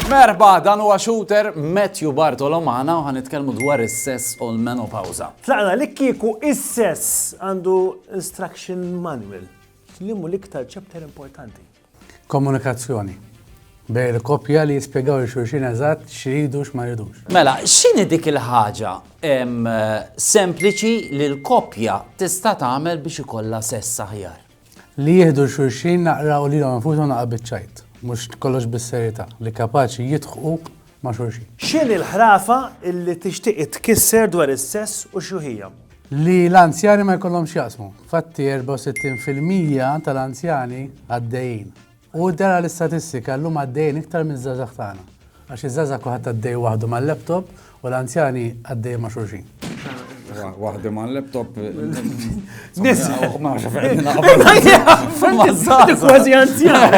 Merba, dan huwa shooter Matthew Bartolomana u ħanitkellmu dwar is-sess u l-menopawza. Tlaqna li kieku is-sess għandu instruction manual. Limu l-iktar chapter importanti. Komunikazzjoni bejn il-koppja li jispjegaw il xulxin eżatt x'iridu u x'ma jridux. Mela, x'inhi dik il-ħaġa sempliċi li l-koppja tista' tagħmel biex ikollha sess aħjar? Li jieħdu xulxin naqra u lilhom infushom naqra biċ-ċajt, mhux kollox bis-serjetà, li kapaċi jidħqu ma' xulxin. X'inhi l-ħrafa li tixtieq itkisser dwar is-sess u x'hu hija? Li l-anzjani ma jkollhomx x'jaqsmu. Infatti 64 fil-mija tal-anzjani għaddejjin. U dera l-istatistika llum għaddejjin iktar miż-żgħażagħ tagħna. Għax iż-żgħażagħ kulħadd għaddej waħdu mal-laptop u l-anzjani għaddejjin ma' xulxin. Waħdi ma' laptop. Nisa. Ma' xafer. Kważi anzjan.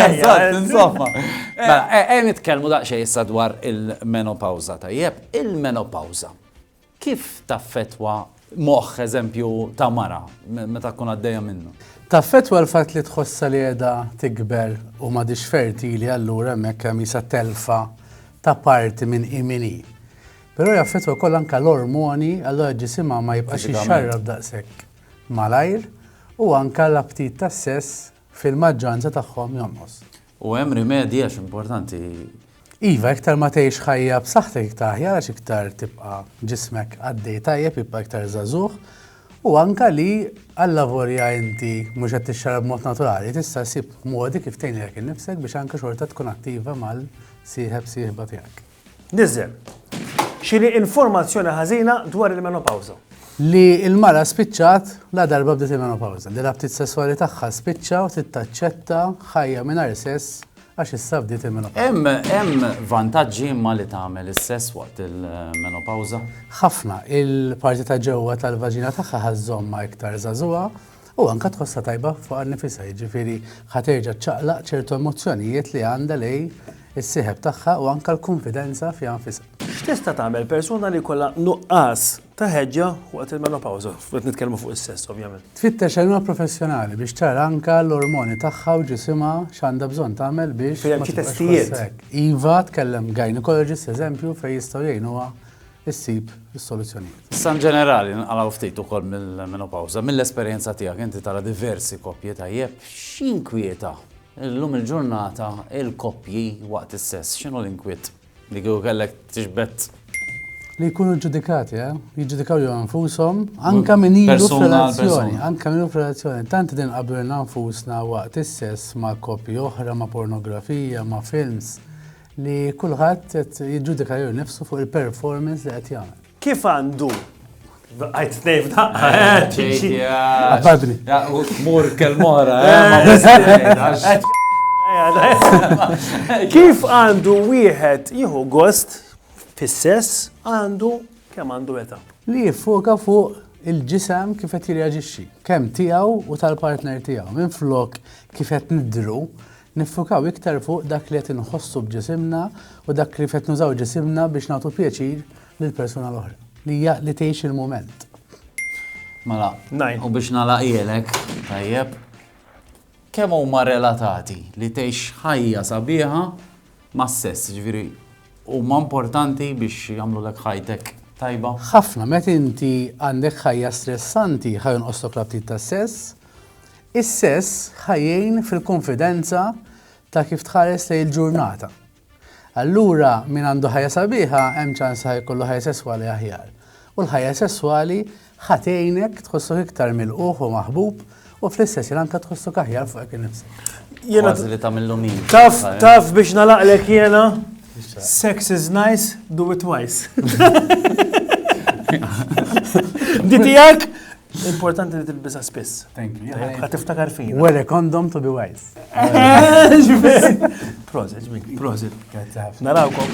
Insomma. Mela, e, e, nitkellmu daqsxejn issa dwar il-menopawza tajjeb. Il-menopawza kif taffetwa moħħ eżempju ta' mara meta tkun għaddejja minnu? Taffetwa l-fatt li tħossa li qiegħda tikber u ma fertili allura hemmhekk hemm telfa ta' parti minn imini. Però jaffettwa wkoll anke l-ormoni, allura ġisimha ma jibqax Fiżikament. jixxarrab daqshekk malajr u anke l-aptit tas-sess fil-maġġoranza tagħhom jonqos. U hemm rimedji għax importanti. Iva, iktar ma tgħix ħajja b'saħħtek iktar aħjar għax iktar tibqa' ġismek għaddej tajjeb, jibqa' iktar żagħżugħ u anke li allavolja inti mhux qed tixxarrab b'mod naturali, tista' ssib modi kif tgħin lilek innifsek biex anke xorta tkun attiva mal-sieħeb sieħba tiegħek. Niżżel. Xiri informazzjoni ħażina dwar il-menopawża. Li l-mara spiċċat ladarba bdiet il-menopawża, li l-aptit sesswali tagħha spiċċa u trid taċċetta ħajja mingħajr sess għax issa bdiet il-menopawża. Hemm hemm vantaġġi imma li tagħmel is-sess waqt il-menopawża? Ħafna. Il-parti ta' ġewwa tal-vaġina tagħha ħa żżommha iktar żagħżugħa. u anke tħossha tajba fuqha nnifisha, jiġifieri ħa terġa' ċċaqlaq ċertu emozzjonijiet li għandha lejn is-sieħeb tagħha u anke l-kunfidenza fiha nfisha. X'tista' tagħmel persuna li jkollha nuqqas ta' ħeġġa waqt il-menopawża? Qed nitkellmu fuq is-sess, ovvjament. Tfittex għajnuna professjonali biex tara anke l-ormoni tagħha u ġisimha x'għandha bżonn tagħmel biex ma tibqax tħossha hekk. Iva, tkellem gynaecologist, eżempju, fejn jistgħu jgħinuha issib is-soluzzjonijiet. Issa in ġenerali ninqalgħu ftit ukoll mill-menopawża. Mill-esperjenza tiegħek inti tara diversi koppji tajjeb, x'inkwieta llum il-ġurnata l-koppji waqt is-sess? X'inhu l-inkwiet li kieku kellek tiġbed? Li jkunu ġġudikati, eh? jiġġudikaw jew nfushom, anke min ilu f'relazzjoni, anke min ilu f'relazzjoni. Tant din qablu nfusna waqt is-sess ma' koppji oħra, ma' pornografija, ma' films. Li kulħadd qed jiġġudika jew nifsu fuq il-performance li qed jagħmel. Kif għandu Għajt t-nejf da. Għabadni. Mur kelmora. Kif għandu wieħed jieħu gost fis-sess għandu kemm għandu età. Li jiffoka fuq il-ġisem kif qed jirreaġixxi, kemm tiegħu u tal-partner tiegħu. Minn flok kif qed nidru, Niffukaw iktar fuq dak li qed inħossu b'ġisimna u dak kif qed nużaw ġisimna biex nagħtu pjaċir lill-persuna l-oħra, li hija li tgħix il-mument. Mela, u biex nagħlaqhielek, tajjeb, kemm huma relatati li tgħix ħajja sabiħa mas-sess, jiġifieri huma importanti biex jagħmlulek ħajtek tajba? Ħafna, meta inti għandek ħajja stressanti, ħa jonqoslok l-aptit tas-sess, Is-sess ħa jgħin fil-kunfidenza ta' kif tħares lejn il-ġurnata. Allura min għandu ħajja sabiħa hemm ċans ħa jkollu ħajja sesswali aħjar. U l-ħajja sesswali ħa tgħinek tħossok iktar milquh u maħbub u fl-istess jien anke tħossok aħjar fuq hekk innifsek. Jena li ta' millu min. Taf, eh? taf biex nalaqlek jena. Sex is nice, do it twice. Ditijak, Importanti li tilbisa spiss. Thank you. Għad tiftakar fin. Wear a condom to be wise. Prosit, ġmik, prosit. Narawkom.